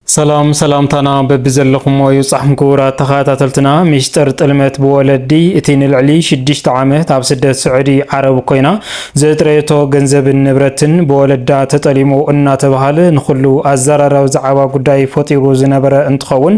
ሰላም ሰላምታና በቢዘለኹሞ ይብጻሕኩም ክቡራት ተኸታተልትና። ሚስጥር ጥልመት ብወለዲ እቲ ንልዕሊ ሽዱሽተ ዓመት ኣብ ስደት ስዑዲ ዓረብ ኮይና ዘጥረየቶ ገንዘብን ንብረትን ብወለዳ ተጠሊሙ እናተባሃለ ንኹሉ ኣዘራራቢ ዛዕባ ጉዳይ ፈጢሩ ዝነበረ እንትኸውን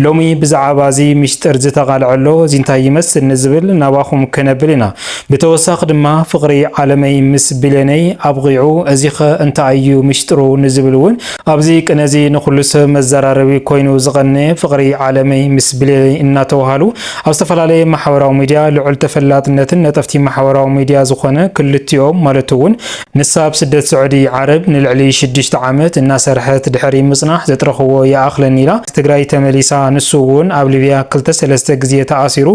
ሎሚ ብዛዕባ እዚ ሚስጥር ዝተቓልዐሎ እዚ እንታይ ይመስል ንዝብል ናባኹም ከነብል ኢና። ብተወሳኺ ድማ ፍቕሪ ዓለመይ ምስ ብሌነይ ኣብቒዑ እዚኸ እንታይ እዩ ሚስጥሩ ንዝብል እውን ኣብዚ ቅነዚ ንኹሉ ሰብ መዘራረቢ ኮይኑ ዝቐነየ ፍቕሪ ዓለመይ ምስ ብሌነይ እናተውሃሉ ኣብ ዝተፈላለየ ማሕበራዊ ሚድያ ልዑል ተፈላጥነትን ነጠፍቲ ማሕበራዊ ሚድያ ዝኾነ ክልቲኦም ማለት እውን ንሳ ኣብ ስደት ስዑዲ ዓረብ ንልዕሊ ሽዱሽተ ዓመት እናሰርሐት ድሕሪ ምፅናሕ ዘጥረኽዎ ይኣኽለኒ ኢላ ትግራይ ተመሊሳ ንሱ እውን ኣብ ሊብያ ክልተ ሰለስተ ግዜ ተኣሲሩ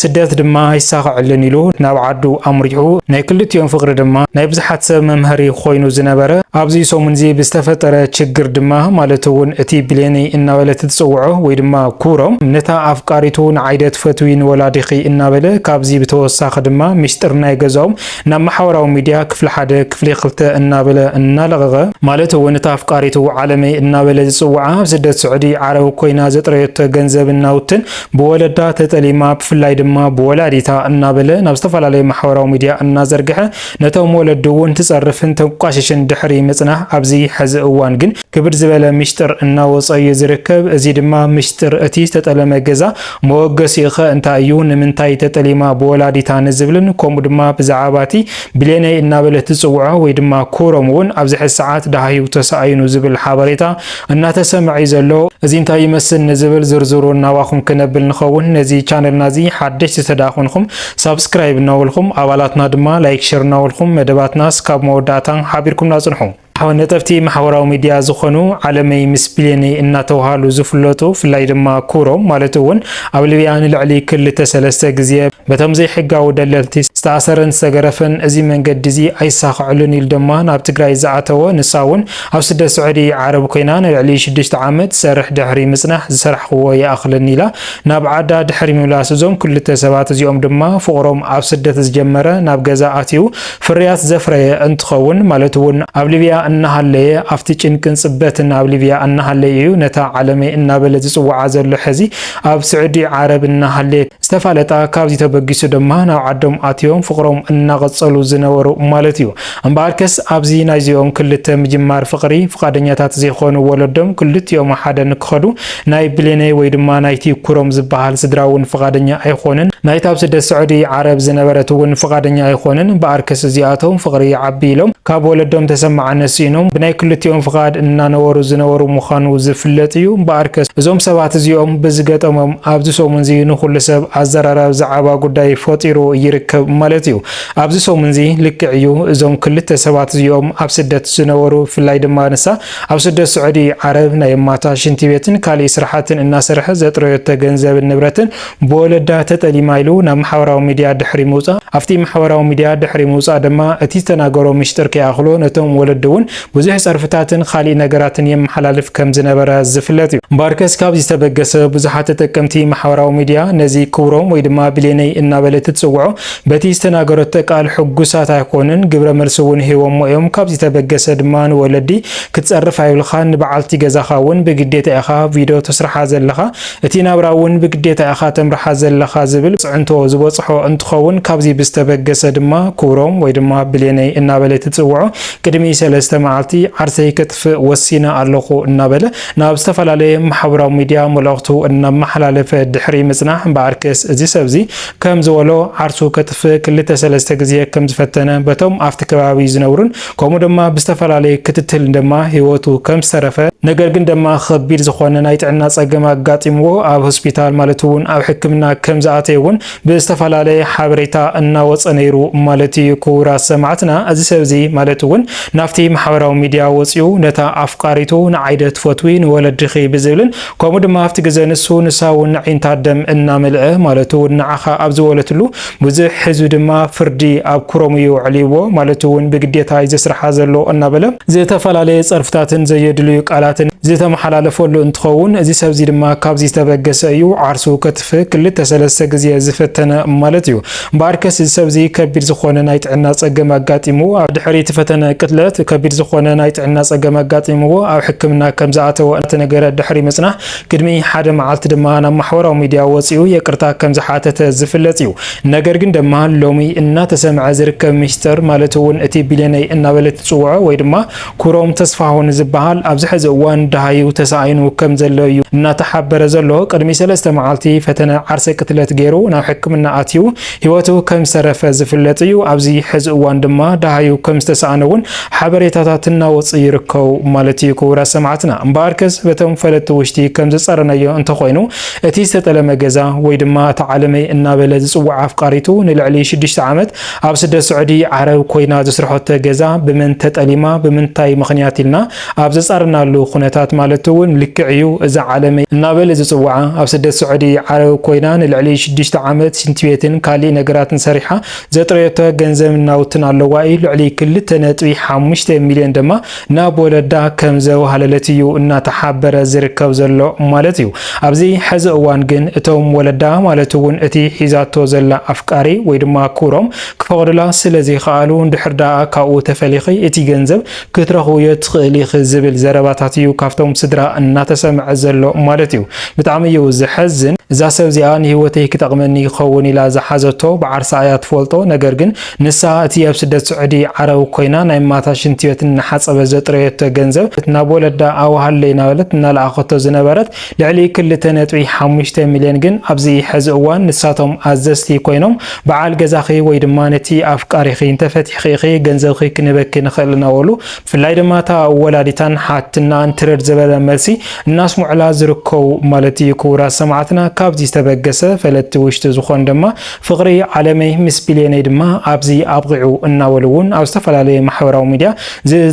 ስደት ድማ ኣይሳኸዐሉን ኢሉ ናብ ዓዱ ኣምሪሑ። ናይ ክልቲኦም ፍቕሪ ድማ ናይ ብዙሓት ሰብ መምሀሪ ኾይኑ ዝነበረ ኣብዚ ሰሙን'ዚ ብዝተፈጠረ ችግር ድማ ማለት እውን እቲ ብሌነይ እናበለት እትፅውዖ ወይ ድማ ኩብሮ ነታ ኣፍቃሪቱ ንዓይ'ደ ትፈትዊ ንወላዲኺ እናበለ ካብዚ ብተወሳኺ ድማ ሚስጥር ናይ ገዛኦም ናብ ማሕበራዊ ሚድያ ክፍሊ ሓደ ክፍሊ ክልተ እናበለ እናለቐቐ ማለት እውን እታ ኣፍቃሪቱ ዓለመይ እናበለ ዝፅውዓ ኣብ ስደት ስዑዲ ዓረብ ኮይና ዘጥረየቶ ገንዘብን ናውትን ብወለዳ ተጠሊማ ብፍላይ ድማ ብወላዲታ እናበለ ናብ ዝተፈላለዩ ማሕበራዊ ሚድያ እናዘርግሐ ነቶም ወለዱ እውን ትፀርፍን ተንቋሽሽን ድሕሪ ምፅናሕ ኣብዚ ሐዚ እዋን ግን ክብድ ዝበለ ሚሽጥር እናወፆ እዩ ዝርከብ እዚ ድማ ሚሽጥር እቲ ዝተጠለመ ገዛ መወገሲኡ ከ እንታይ እዩ ንምንታይ ተጠሊማ ብወላዲታ ንዝብልን ከምኡ ድማ ብዛዕባ እቲ ብሌነይ እናበለት ትፅውዖ ወይ ድማ ኩሮም እውን ኣብዚ ሐዚ ሰዓት ደሃዩ ተሳኢኑ ዝብል ሓበሬታ እናተሰመዐ እዩ ዘሎ እዚ እንታይ ይመስል ንዝብል ዝርዝሩ ናባኹም ክነብል ንኸውን ነዚ ቻነልና እዚ ሓደሽቲ ተዳኾንኹም ሳብስክራይብ እናበልኹም ኣባላትና ድማ ላይክ ሸር እናበልኹም መደባትና ስካብ መወዳእታ ሓቢርኩምና ጽንሑ ነጠብቲ ማሕበራዊ ሚድያ ዝኾኑ ዓለመይ ምስ ብሌነይ እናተውሃሉ ዝፍለጡ ፍላይ ድማ ኩሮም ማለት እውን ኣብ ልብያ ንልዕሊ ክልተ ሰለስተ ግዜ በቶም ዘይሕጋዊ ደለልቲ ዝተኣሰረን ዝተገረፈን እዚ መንገዲ እዚ ኣይሳኸዕሉን ኢሉ ድማ ናብ ትግራይ ዝኣተወ ንሳ እውን ኣብ ስደት ስዑዲ ዓረብ ኮይና ንልዕሊ ሽዱሽተ ዓመት ትሰርሕ ድሕሪ ምጽናሕ ዝሰራሕኽዎ ይኣኽለኒ ኢላ ናብ ዓዳ ድሕሪ ምምላስ እዞም ክልተ ሰባት እዚኦም ድማ ፍቕሮም ኣብ ስደት ዝጀመረ ናብ ገዛ ኣትዩ ፍርያት ዘፍረየ እንትኸውን ማለት እውን ኣብ ሊብያ እናሃለየ ኣብቲ ጭንቅን ጽበትን ኣብ ሊብያ እናሃለየ እዩ ነታ ዓለመይ እናበለ ዝጽውዓ ዘሎ ሕዚ ኣብ ስዑዲ ዓረብ እናሃለየ ዝተፋለጣ ካብዚ ተበጊሱ ድማ ናብ ዓዶም ኣትዮም ፍቕሮም እናቐጸሉ ዝነበሩ ማለት እዩ። እምበኣርከስ ኣብዚ ናይዚኦም ክልተ ምጅማር ፍቕሪ ፍቓደኛታት ዘይኮኑ ወለዶም ክልቲኦም ሓደ ንክኸዱ ናይ ብሌነይ ወይ ድማ ናይቲ ኩሮም ዝበሃል ስድራ እውን ፍቓደኛ ኣይኾነን ናይታ ኣብ ስደት ስዑዲ ዓረብ ዝነበረት እውን ፍቓደኛ ኣይኾነን እምበኣርከስ እዚኣቶም ፍቕሪ ይዓቢ ኢሎም ካብ ወለዶም ተሰማዕነት ስኢኖም ብናይ ክልቲኦም ፍቓድ እናነበሩ ዝነበሩ ምዃኑ ዝፍለጥ እዩ እምበኣርከስ እዞም ሰባት እዚኦም ብዝገጠሞም ኣብዚ ሰሙን እዚ ንኹሉ ሰብ ኣዘራራቢ ዛዕባ ጉዳይ ፈጢሩ ይርከብ ማለት እዩ። ኣብዚ ሰሙንዚ ልክዕ እዩ እዞም ክልተ ሰባት እዚኦም ኣብ ስደት ዝነበሩ ብፍላይ ድማ ንሳ ኣብ ስደት ስዑዲ ዓረብ ናይ እማታ ሽንቲ ቤትን ካሊእ ስራሓትን እናሰረሐት ዘጥረዮቶ ገንዘብን ንብረትን ብወለዳ ተጠሊማ ኢሉ ናብ ማሕበራዊ ሚድያ ድሕሪ ምውፃእ ኣብቲ ማሕበራዊ ሚድያ ድሕሪ ምውፃእ ድማ እቲ ዝተናገሮ ምሽጥር ከይኣኽሎ ነቶም ወለዲ እውን ብዙሕ ፀርፍታትን ኻሊእ ነገራትን የመሓላልፍ ከም ዝነበረ ዝፍለጥ እዩ። እምበኣርከስ ካብዚ ዝተበገሰ ብዙሓት ተጠቀምቲ ማሕበራዊ ሚድያ ነዚ ክብሮም ወይ ድማ ብሌነይ እናበለት እትፅውዖ በቲ ዝተናገረቶ ቃል ሕጉሳት ኣይኮኑን፣ ግብረ መልሲ እውን ሂቦሞ እዮም፣ ካብ ዝተበገሰ ድማ ንወለዲ ክትፀርፍ ኣይብልኻን፣ ንበዓልቲ ገዛኻ እውን ብግዴታ ኢኻ ቪዶ ተስርሓ ዘለኻ፣ እቲ ናብራ እውን ብግዴታ ኢኻ ተምርሓ ዘለኻ ዝብል ፅዕንቶ ዝበፅሖ እንትኸውን ካብዚ ብዝተበገሰ ድማ ክብሮም ወይ ድማ ብሌነይ እናበለ ትፅውዖ ቅድሚ ሰለስተ መዓልቲ ዓርሰይ ከጥፍእ ወሲነ ኣለኹ እናበለ ናብ ዝተፈላለየ ማሕበራዊ ሚዲያ መልእኽቱ እናመሓላለፈ ድሕሪ ምፅናሕ እምበኣርከስ እዚ ሰብዚ ከም ዝበሎ፣ ዓርሱ ከጥፍእ ክልተ ሰለስተ ግዜ ከም ዝፈተነ፣ በቶም ኣብቲ ከባቢ ዝነብሩን ከምኡ ደማ ብዝተፈላለዩ ክትትል ደማ ህይወቱ ከም ዝተረፈ፣ ነገር ግን ደማ ኸቢድ ዝኾነ ናይ ጥዕና ጸገም ኣጋጢምዎ ኣብ ሆስፒታል ማለት እውን ኣብ ሕክምና ከም ዝኣተየ እውን ብዝተፈላለየ ሓበሬታ እናወጸ ነይሩ ማለት እዩ። ክቡራት ሰማዕትና እዚ ሰብ እዚ ማለት እውን ናብቲ ማሕበራዊ ሚድያ ወጺኡ ነታ ኣፍቃሪቱ ንዓይደ ትፈትዊ ንወለድኺ ብዝብልን ከምኡ ድማ ኣብቲ ግዘ ንሱ ንሳ እውን ኣዒንታ ደም እናመልዐ ማለት እውን ንዓኻ ኣብ ዝወለትሉ ብዙሕ ህዝቢ ድማ ፍርዲ ኣብ ኩሮም እዩ ኣዕልይዎ ማለት እውን ብግዴታ እዩ ዘስርሓ ዘሎ እናበለ ዝተፈላለየ ፀርፍታትን ዘየድልዩ ቃላትን ዝተመሓላለፈሉ እንትኸውን እዚ ሰብዚ ድማ ካብዚ ዝተበገሰ እዩ ዓርሱ ከትፍእ ክልተ ሰለስተ ግዜ ዝፈተነ ማለት እዩ። እምበኣርከስ እዚ ሰብዚ ከቢድ ዝኾነ ናይ ጥዕና ጸገም ኣጋጢምዎ ኣብ ድሕሪ እቲ ፈተነ ቅትለት ከቢድ ዝኾነ ናይ ጥዕና ጸገም ኣጋጢምዎ ኣብ ሕክምና ከም ዝኣተወ እናተነገረ ድሕሪ ምጽናሕ ቅድሚ ሓደ መዓልቲ ድማ ናብ ማሕበራዊ ሚድያ ወጺኡ የቅርታ ከም ዝሓተተ ዝፍለጥ እዩ ነገር ግን ደማ ሎሚ እናተሰምዐ ዝርከብ ሚስጥር ማለት እውን እቲ ቢልየነይ እናበለት ትጽውዖ ወይ ድማ ክሮም ተስፋሁን ዝበሃል ኣብዚ ሕዚ እዋን ደሃዩ ተሳኢኑ ከም ዘሎ እዩ እናተሓበረ ዘሎ። ቅድሚ ሰለስተ መዓልቲ ፈተነ ዓርሰ ቅትለት ገይሩ ናብ ሕክምና ኣትዩ ህይወቱ ከም ዝተረፈ ዝፍለጥ እዩ። ኣብዚ ሕዚ እዋን ድማ ደሃዩ ከም ዝተሳእነ እውን ሓበሬታታት እናወፅኡ ይርከቡ ማለት እዩ። ክቡራት ሰማዕትና እምበኣርከስ በቶም ፈለጥቲ ውሽጢ ከም ዝፀረናዮ እንተኾይኑ እቲ ዝተጠለመ ገዛ ወይ ድማ እታ ዓለመይ እናበለ ዝፅውዓ ኣፍቃሪቱ ንልዕሊ ሽዱሽተ ዓመት ኣብ ስደት ስዑዲ ዓረብ ኮይና ዘስርሐቶ ገዛ ብመን ተጠሊማ ብምንታይ ምኽንያት ኢልና ኣብ ዘፃረናሉ ኩነታት ማለት እውን ልክዕ እዩ እዛ ዓለመይ እናበለ ዝፅውዓ ኣብ ስደት ስዑዲ ዓረብ ኮይና ንልዕሊ ሽዱሽተ ዓመት ሽንቲ ቤትን ካሊእ ነገራትን ሰሪሓ ዘጥረየቶ ገንዘብን ናውትን ኣለዋ እዩ ልዕሊ ክልተ ነጥቢ ሓሙሽተ ሚሊዮን ድማ ናብ ወለዳ ከም ዘዋህለለት እዩ እናተሓበረ ዝርከብ ዘሎ ማለት እዩ። ኣብዚ ሐዚ እዋን ግን እቶም ወለዳ ማለት እውን እቲ ሒዛቶ ዘላ ኣፍቃሪ ወይ ድማ ክብሮም ክፈቕዱላ ስለ ዘይኸኣሉ እንድሕር ደኣ ካብኡ ተፈሊኺ እቲ ገንዘብ ክትረኽብዮ ትኽእሊ ኢኺ ዝብል ዘረባታት እዩ ካብቶም ስድራ እናተሰምዐ ዘሎ ማለት እዩ። ብጣዕሚ እዩ ዘሐዝን። እዛ ሰብ እዚኣ ንህይወተይ ክጠቕመኒ ይኸውን ኢላ ዝሓዘቶ ብዓርሳ እያ ትፈልጦ ነገር ግን ንሳ እቲ ኣብ ስደት ስዑዲ ዓረብ ኮይና ናይ እማታ ሽንቲ ቤት እናሓጸበት ዘጥረየቶ ገንዘብ ናብ ወለዳ ኣውሃለይ እናበለት እናለኣኸቶ ዝነበረት ልዕሊ ክልተ ነጥቢ ሓሙሽተ ሚልዮን ግን ኣብዚ ሕዚ እዋን ንሳቶም ኣዘዝቲ ኮይኖም በዓል ገዛኺ ወይ ድማ ነቲ ኣፍቃሪኺ እንተፈቲሕኺ ኢኺ ገንዘብኺ ክንህበኪ ንኽእል እናበሉ ብፍላይ ድማ እታ ወላዲታን ሓትናን ትርር ዝበለ መልሲ እናስምዑላ ዝርከቡ ማለት እዩ። ክቡራት ሰማዕትና ካብዚ ዝተበገሰ ፈለጥቲ ውሽጢ ዝኾኑ ድማ ፍቕሪ ዓለመይ ምስ ቢሌነይ ድማ ኣብዚ ኣብቒዑ እናበሉ እውን ኣብ ዝተፈላለየ ማሕበራዊ ሚድያ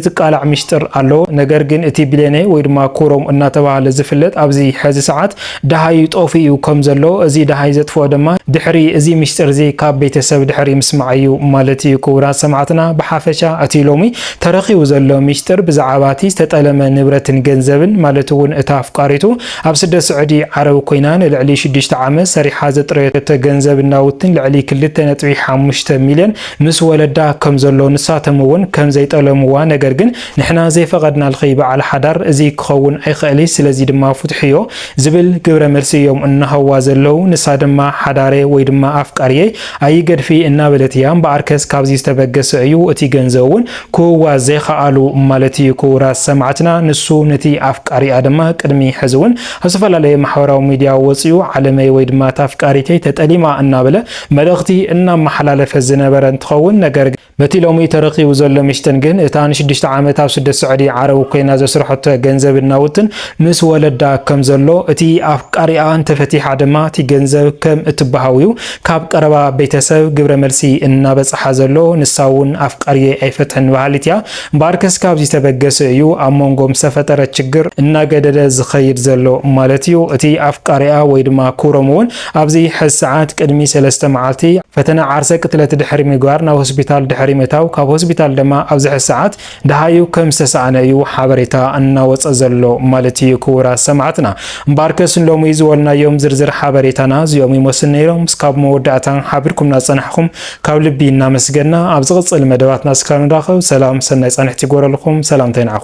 ዝቃላዕ ሚሽጥር ኣሎ። ነገር ግን እቲ ቢሌነይ ወይ ድማ ኩሮም እናተብሃለ ዝፍለጥ ኣብዚ ሕዚ ሰዓት ደሃዩ ጠፊኡ ከም ዘሎ እዚ ደሃይ ዘጥፍኦ ድማ ድሕሪ እዚ ሚሽጥር እዚ ካብ ቤተሰብ ድሕሪ ምስማዕ እዩ ማለት እዩ። ክቡራት ሰማዕትና ብሓፈሻ እቲ ሎሚ ተረኺቡ ዘሎ ሚሽጥር ብዛዕባ እቲ ዝተጠለመ ንብረትን ገንዘብን ማለት እውን እታ ኣፍቃሪቱ ኣብ ስደት ስዑዲ ዓረብ ኮይና ንልዕሊ ሽዱሽተ ዓመት ሰሪሓ ዘጥረየቶ ገንዘብን ናውትን ልዕሊ ክልተ ነጥቢ ሓሙሽተ ሚልዮን ምስ ወለዳ ከም ዘሎ ንሳቶም እውን ከም ዘይጠለምዋ ነገር ግን ንሕና ዘይፈቐድናልኺ በዓል ሓዳር እዚ ክኸውን ኣይኸእልይ ስለዚ ድማ ፍትሕዮ ዝብል ግብረ መልሲ እዮም እናሃዋ ዘለው ንሳ ድማ ሓዳሬ ወይ ድማ ኣፍቃርየይ ኣይገድፍይ እናበለት እያ እምበኣርከስ ካብዚ ዝተበገሰ እዩ እቲ ገንዘብ እውን ክህዋ ዘይኸኣሉ ማለት ኢዩ ክቡራት ሰማዕትና ንሱ ነቲ ኣፍቃሪኣ ድማ ቅድሚ ሕዚ ውን ኣብ ዝተፈላለየ ማሕበራዊ ሚድያ ወጺኡ ዓለመይ ወይ ድማ እታ ኣፍቃሪተይ ተጠሊማ እናበለ መልእኽቲ እናመሓላለፈ ዝነበረ እንትኸውን ነገር ግን በቲ ሎሚ ተረኺቡ ዘሎ ሚስጥን ግን እታ ንሽዱሽተ ዓመት ኣብ ስደት ስዑዲ ዓረብ ኮይና ዘስርሐቶ ገንዘብን ናውትን ምስ ወለዳ ከም ዘሎ እቲ ኣፍቃሪኣ እንተፈቲሓ ድማ እቲ ገንዘብ ከም እትበሃው ኢዩ ካብ ቀረባ ቤተሰብ ግብረ መልሲ እናበፀሓ ዘሎ ንሳ እውን ኣፍቃርየይ ኣይፈትሕን በሃሊት እያ። እምበኣርከስ ካብዚ ተበገሰ እዩ ኣብ ሞንጎም ዝተፈጠረ ችግር እናገደደ ዝኸይድ ዘሎ ማለት እዩ። እቲ ኣፍቃሪኣ ወይ ድማ ክብሮም እውን ኣብዚ ሕዚ ሰዓት ቅድሚ ሰለስተ መዓልቲ ፈተነ ዓርሰ ቅትለት ድሕሪ ምግባር ናብ ሆስፒታል ድሕሪ ምእታው ካብ ሆስፒታል ድማ ኣብዚ ሕዚ ሰዓት ደሃዩ ከም ዝተሳኣነ እዩ ሓበሬታ እናወፀ ዘሎ ማለት እዩ ክቡራት ሰማዕትና። እምበኣርከስ ሎሚ ዝበልናዮም ዝርዝር ሓበሬታና እዚኦም ይመስሉ ነይሮም። እስካብ መወዳእታ ሓቢርኩምና ዝፀናሕኹም ካብ ልቢ እናመስገንና ኣብ ዝቕፅል መደባትና እስካብ ንራኸብ ሰላም ሰናይ ፃንሒት ይግበረልኹም። ሰላምታይ ንዓኹም።